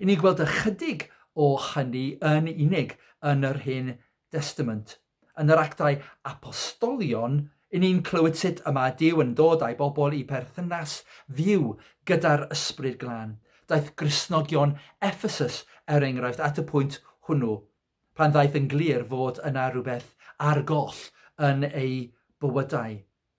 I ni gweld ychydig o hynny yn unig yn yr Hen Destament. Yn yr Actau Apostolion, i ni'n clywed sut y mae Duw yn dod â'i bobl i berthynas fyw gyda'r Ysbryd Glân. Daeth Gristnogion Effesus, er enghraifft, at y pwynt hwnnw, pan ddaeth yn glir fod yna rhywbeth ar goll yn eu bywydau.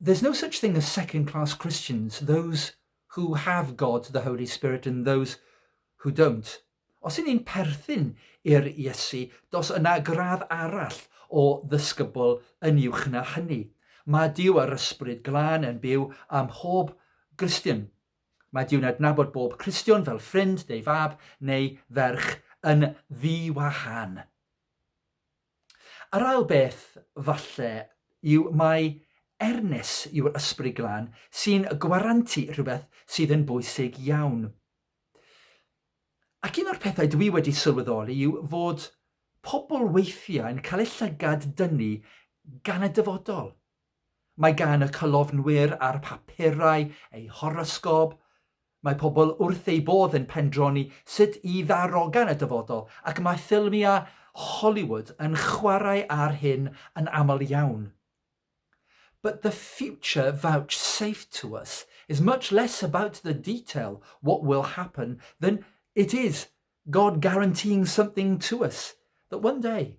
There's no such thing as second class Christians, those who have God, the Holy Spirit and those who don't. Os yn ni'n perthyn i'r Iesu, dos yna gradd arall o ddysgybl yn uwch na hynny. Mae Dyw a'r Ysbryd Glân yn byw ym mhob Gristion. Mae Dyw'n adnabod bob Cristion fel ffrind neu fab neu ferch yn ddi-wahan. Yr ail beth, falle, yw mai Ernest yw'r Ysbryd Glân sy'n gwarantu rhywbeth sydd yn bwysig iawn. Ac un o'r pethau dwi wedi sylweddoli yw fod pobl weithiau'n cael eu llygad dynnu gan y dyfodol. Mae gan y cyflofnwyr a'r papurau eu horosgôp, mae pobl wrth eu bodd yn pendroni sut i ddarogan y dyfodol ac mae ffilmiau Hollywood yn chwarae ar hyn yn aml iawn. But the future vouchsafed to us is much less about the detail, what will happen, than it is God guaranteeing something to us that one day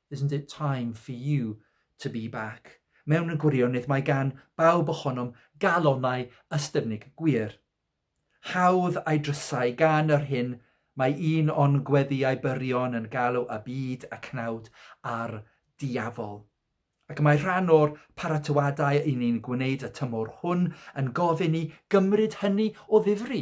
Isn't it time for you to be back? Mewn gwirionedd mae gan bawb ohonom galonnau ystyfnig gwir. Hawdd a'i drysau gan yr hyn mae un o'n gweddïau byrion yn galw y byd y cnawd a'r diafol. Ac mae rhan o'r paratoadau i ni'n gwneud y tymor hwn yn gofyn i gymryd hynny o ddifri.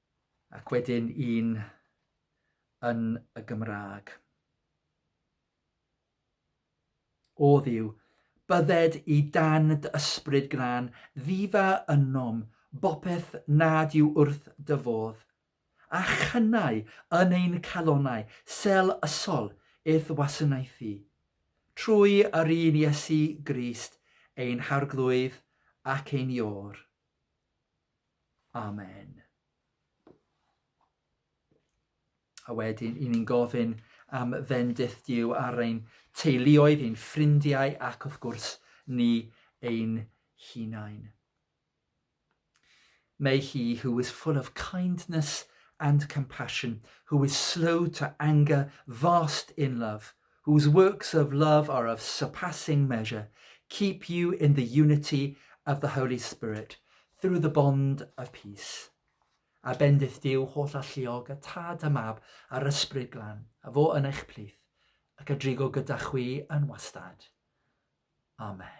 Ac wedyn un yn y Gymraeg. O ddiw, bydded i dan dy ysbryd grân, ddifa ynom, bopeth nad yw wrth dy fodd, a chynnau yn ein calonau sel ysol i'th wasanaethu, trwy yr un Iesu Grist, ein Harglwydd ac ein Iôr. Amen. A wedyn, i ni'n gofyn am fendith Dyw ar ein teuluoedd, ein ffrindiau ac wrth gwrs ni ein hunain. May he who is full of kindness and compassion, who is slow to anger, vast in love – Whose works of love are of surpassing measure, keep you in the unity of the Holy Spirit, through the bond of peace. A bendith Dyw holl alluog, y Tad a Mab a'r Ysbryd Glan, a fo yn eich plith, ac a drigo gyda chwi yn wastad. Amen.